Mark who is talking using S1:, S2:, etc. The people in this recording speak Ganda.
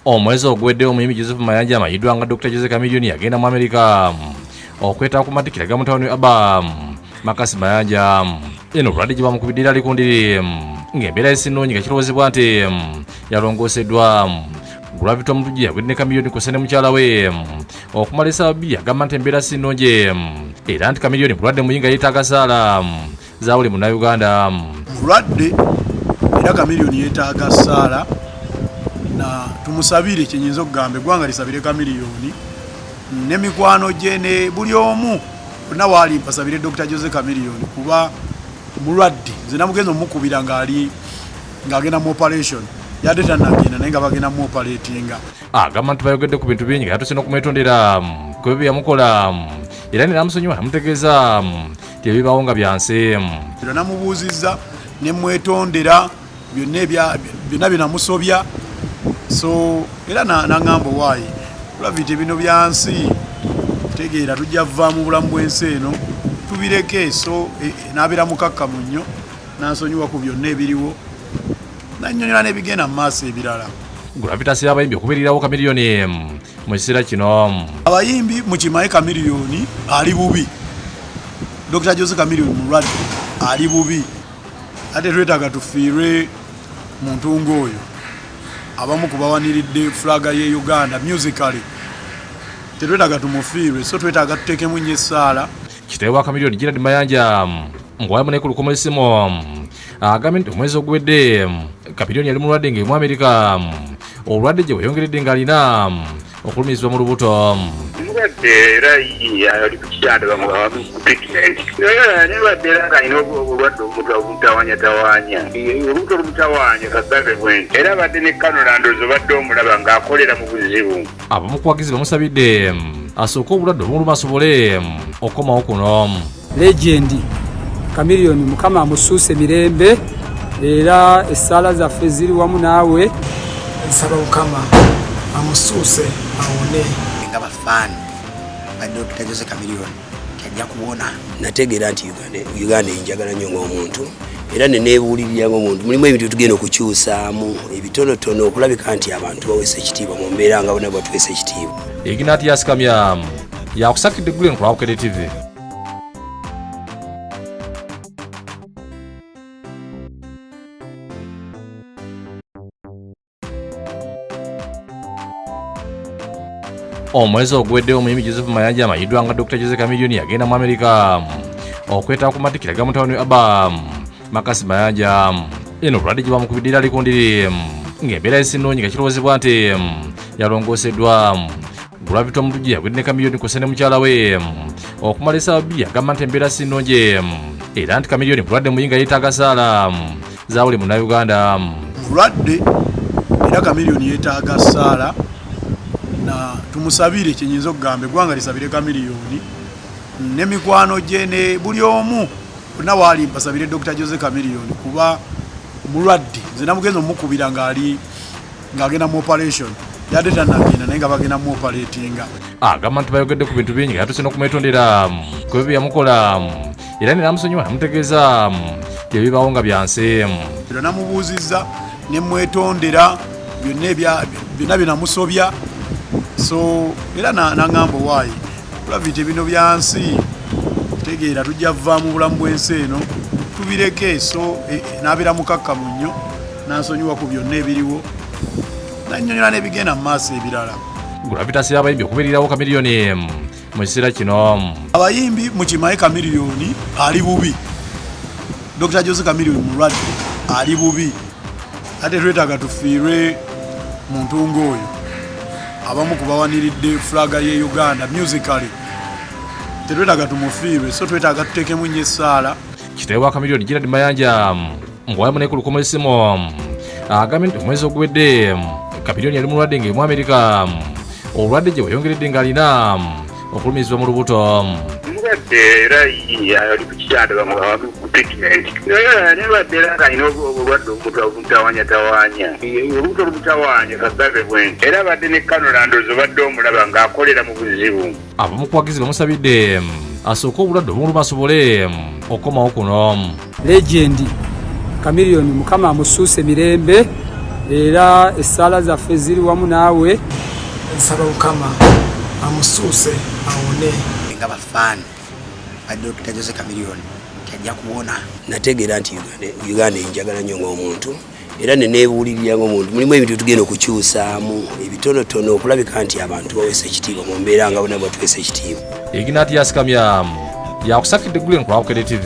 S1: omwezi oguweddewo omuyimbi joseph mayanja amayiddwa nga dr jose kamilioni yagenda mu amerika okwetaba ku matikira ga mutawuni aba makasi mayanja eno obulwadde gye bamukubiddira ali ku ndiri ng'embeera esinungi nga kirowoozebwa nti yalongooseddwa gravity omutujju yagwidde ne kamilioni kose ne mukyala we okumala esaawa bbiri agamba nti embeera sinungi era nti kamilioni bulwadde muyinga yeetaaga saala za buli munnayuganda mulwadde
S2: era kamiliyoni yeetaaga saala na tumusabire kyenyinza okugamba eggwanga lisabire kamiliyoni ne mikwano gye ne buli omu onna waali mpasabire dr jose kamiliyoni kuba mulwadde nze namugenza omukubira ngaali ng'agenda mu operation yadde tanagenda naye nga bagenda mu operatinga agamba ah, nti bayogedde
S1: ku bintu bingi nga yatuse n'okumwetondera mm, kwebyo byeyamukola mm, era neramusonyiwa namutegeeza mm, tebibawo nga byanseemu era namubuuzizza
S2: ne mwetondera byonna byonna byenamusobya so era naŋamba owaayi olavite bino byansi tegeera tujja vva mu bulamu bwensi eno tubireke so e, e, nabeera mukakkamu nnyo nansonyiwa ku byonna ebiriwo nanyonyola n'ebigenda mu maaso ebirala gravitas y'abayimbi
S1: okubeererawo kamiriyoni mu kiseera kino abayimbi mukimaye
S2: kamiriyoni ali bubi dr jose kamiriyoni mulwadde ali bubi ate twetaaga tufiirwe muntu ng'oyo abamu ku bawaniridde fulaga ye uganda musically tetwetaaga tumufiirwe so twetaaga tuteekemu nnyo essaala kitaawe wa kamiriyoni
S1: gerard mayanja ng'owamu nekulukumu esimu agambye nti omwezi oguwedde kapitoni yali mulwadde nga emu amerika obulwadde gye bweyongeredde ng'alina okulumizibwa mu lubuto mulwadde
S3: era ali ku kitanda bamuamukupitimenti era nirwadde era ng'alina obulwadde obumutawanyatawanya olubuto olumutawanya kagave bwenti era abadde ne kanolandozi obadde omulaba ng'akolera mu buzibu abamukuwagizi
S1: bamusabidde asooke obulwadde obumuluma asobole okukomawo kuno Legend
S4: Chameleon mukama amusuuse mirembe era essaala zaffe ziri wamu naawe. Nsaba
S5: mukama amusuuse awone. Nga bafaani
S6: ba Dokita Jose Chameleon tajja kuwona. Nategeera nti Uganda enjagala nnyo ng'omuntu era nenebuulirira ng'omuntu mulimu ebintu tugenda okukyusaamu ebitonotono okulabika nti abantu baweesa ekitiibwa mu mbeera nga bona batweesa ekitiibwa. Ignatius
S1: Kamyamu yakusakidde Glen ku Lwabukede TV. omwezi oguweddewo omuyimbi joseph mayanja amayiddwa nga dr jose camilioni yagenda mu amerika okwetaba ku matikira ga mutabani we abam makasi mayanja eno obulwadde gye bamukubidde ali ku ndiri ng'embeera esinnoonyi nga kirowoozebwa nti yalongooseddwa gravity omutujju yagwidde ne kamiliyoni ku sene mukyala we okumala esaawa bbiri agamba nti embeera sinnungi era nti kamiliyoni mulwadde muyinga yeetaaga saala za buli munnauganda mulwadde
S2: era kamiliyoni yeetaaga saala na tumusabire kyenyinza okugamba eggwanga lisabire kamiliyoni ne mikwano gye ne buli omu bonna waali mbasabire dr jose camilion kuba mulwadde nze namugenza omukubira ngaali ng'agenda mu operation yadde tanagenda naye nga bagenda mu operatinga agamba nti bayogedde
S1: ku bintu bingi nga yatuse n'okumwetondera ku ebyo byeyamukola era ne namusonyiwa namutegeeza bye bibaawo nga byansi era namubuuzizza
S2: ne mwetondera byonna bye namusobya so era nangamba owaayi Gravity bino bya nsi tegeera tujja vva mu bulamu bw'ensi eno tubireke so eh, eh, nabeera mukakkamu nnyo nansonyiwa ku byonna ebiriwo nanyonyola n'ebigenda mu maaso ebirala gravitas y'abayimbi
S1: okubeererawo kamiriyoni mu kiseera kino abayimbi mukimaye
S2: kamiriyoni ali bubi dr jose kamiriyoni mulwadde ali bubi ate twetaaga tufiirwe muntu ng'oyo abamu ku bawaniridde fulaga ye uganda musically tetwetaaga tumufiirwe so twetaaga tuteekemu nnyo essaala kitaawe wa kamiliyoni
S1: gerard mayanja ng'owayamu naye ku lukomo essimu agambye nti omwezi oguwedde kamiliyoni yali mulwadde ng'emu amerika obulwadde gye bweyongeredde ng'alina okulumizibwa mu lubuto mubadde
S3: era ali ku kitanda bamuawamukupitimenti naye nebadde era ng'alina obulwadde obumutawanyatawanya olubuto olumutawanya kagave bwenti era abadde ne kanolandozi obadde omulaba ng'akolera mu buzibu abamu kuwagizi
S1: bamusabidde asooke obulwadde obumuluma asobole okukomawo kuno Legend
S4: Chameleon mukama amusuuse
S1: mirembe
S4: era essaala zaffe ziri wamu naawe. Nsaba
S5: mukama amusuuse awone. Nga bafaani
S6: ba Dokita Jose Chameleon tajja kuwona. Nategeera nti Uganda enjagala nnyo ng'omuntu. era nenebuulirira nga omuntu mulimu ebintu tugenda okukyusaamu ebitonotono okulabika nti abantu baweesa ekitiibwa mu mbeera nga bona batuweesa
S1: ekitiibwa
S6: ignatius kamya
S1: yakusakidde
S6: gulen
S1: ku awukede
S6: tv